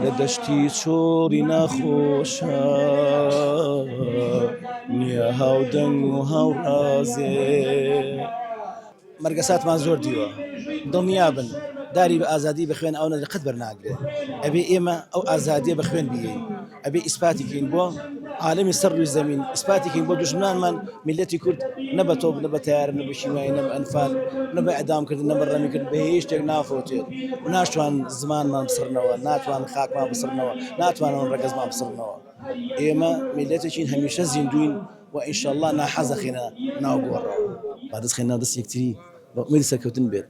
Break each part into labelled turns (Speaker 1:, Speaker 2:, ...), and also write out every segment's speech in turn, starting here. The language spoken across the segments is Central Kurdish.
Speaker 1: لە دەشتی چۆڕی ناخۆشە نییە هاودەنگ و هاوڕازێ مەرگەساتمان زۆر دیوە دڵنیا بن داری بە ئازادی بە خوێن ئەو نەدرقەت بەرناگرێت ئەبێ ئێمە ئەو ئازادیە بە خوێن بگەین ئەبێ ئیسپاتی کەین بۆ عالەمی سەر رووی زەمین ئیسپاتی کەین بۆ دژمنانمان میلەتی کورد نە بە تۆپ نە بە تەیارە نە بە شیمای نە بە ئەنفال نە بە ئەدامکردن نە بە ڕەمیکرد بە هیچ شتێک نافەوتێت و ناشتوان زمانمان بسڕنەوە ناتوان خاکمان بسڕنەوە ناتوانەوە ڕەگەزمان بسڕنەوە ئێمە میلەتێکین هەمیشە زیندوین و ئینشەڵڵا ناحەزەخینە ناو گۆڕەوە با دەستخینە دەست یەکتری بە ئومێدی سەرکەوتن بێت.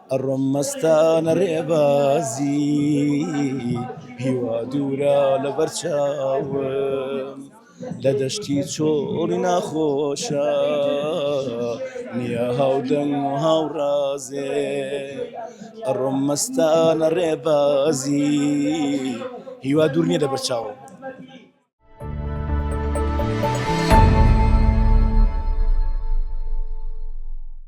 Speaker 1: ئەڕۆم مەستانە ڕێبازی هیوا دوورە لە بەر چاوم لە دەشتی چۆڵی ناخۆشە نییە هاودەنگ و هاوڕازێ ئەڕۆم مەستانە ڕێبازی هیوا دوور نیە لە بەر چاوم